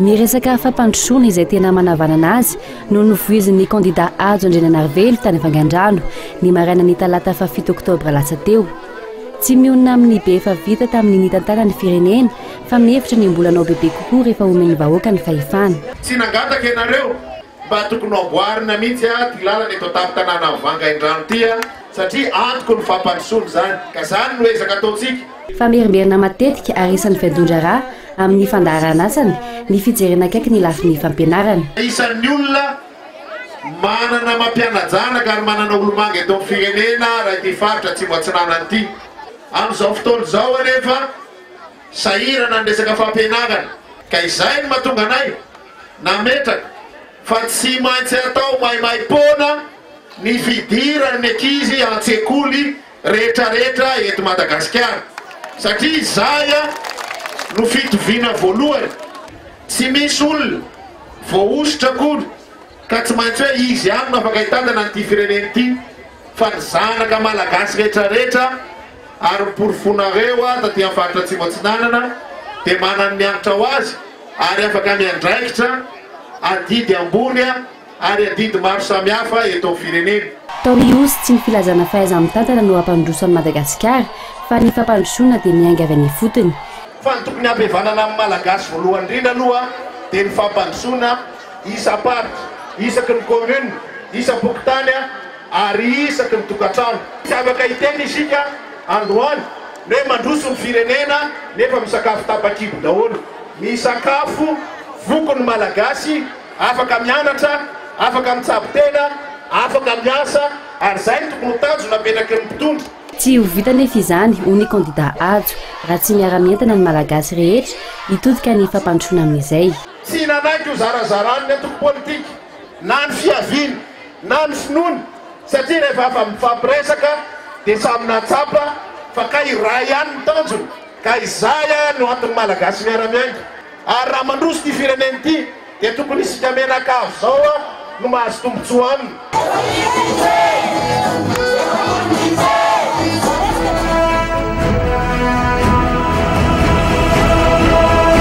Ny resaka fampandrosoana izay tena manavanana azy no novoizin'ny kandida Hajo Andriananarivelo tany Vangandrano ny marainan'ny talata fahafito oktobra lasa teo. Tsy mionona amin'ny be efa vita tamin'ny nitantana ny firenena fa mihevitra ny mbola hanao bebe kokoa rehefa omen'ny vahoaka ny fahefana. Tsy nangataka ianareo. Mba tokony amboarina mihitsy ah ty lalana eto an-tampon-tanàna Vangaindrano ty ah satria antoko ny fampandrosoana izany ka izany no ezaka ataontsika. Famerimberina matetika ary isan'ny fiadian-draharaha amin'ny fandaharanasany ny fijerena akaiky ny lafiny fampianarana. Isan'ny olona manana mampiana-janaka ary manana olomanga eto amin'ny firenena raha ity faritra Atsimo Atsinanana ity. Amin'izao fotoana izao anefa sahirana ny resaka fampianarana ka izay no mahatonga anay, nametraka fa tsy maintsy atao maimaim-poana ny fidiran'ny ankizy an-tsekoly rehetrarehetra eto Madagasikara satria izay no fitoviana voalohany. Tsy misy olona voahosotra akory ka tsy maintsy hoe izy ihany no afaka hitantana an'ity firenena ity fa ny zanaka malagasy rehetrarehetra ary ny porofonareo aho taty amin'ny faritra Atsimo Atsinanana dia manan'ny hanitra ho azy ary afaka miandraikitra adidy ambony ary adidy maro samihafa eto amin'ny firenena. Taori'Iosy, tsy ny filazana fahaiza-mitantana no hampandroso an'i Madagasikara fa ny fampandrosoana dia miainga avy any ifotony. Fa ny tokony hampihavanana amin'ny Malagasy voalohany indrindra aloha dia ny fampandrosoana isam-paritra, isaky ny commune, isam-pokontany, Ary isaky ny tokantrano. Tsy afaka hiteny isika androany ny hoe mandroso ny firenena nefa misakafo tapakibo daholo. Misakafo voky ny Malagasy, afaka mianatra, afaka mitsabo tena, afaka miasa ary izay no tokony ho tanjona apetraky ny mpitondra. Tsy ho vita anefa izany, hoy ny kandidà Hajo, raha tsy miara-mientana ny Malagasy rehetra hitodika ny fampandrosoana amin'izay. Tsy nanaiky ho zarazaràn'ny antoko politika na ny fiaviany Na ny finoana, satria rehefa afa mifampiresaka dia samy nahatsapa fa kay iray ihany ny tanjona ka izay ary no anton'ny Malagasy miara-miainga. Ary raha mandroso ity firenena ity dia tokony isika mianakavy izao no mahazo tombotsoa aminy.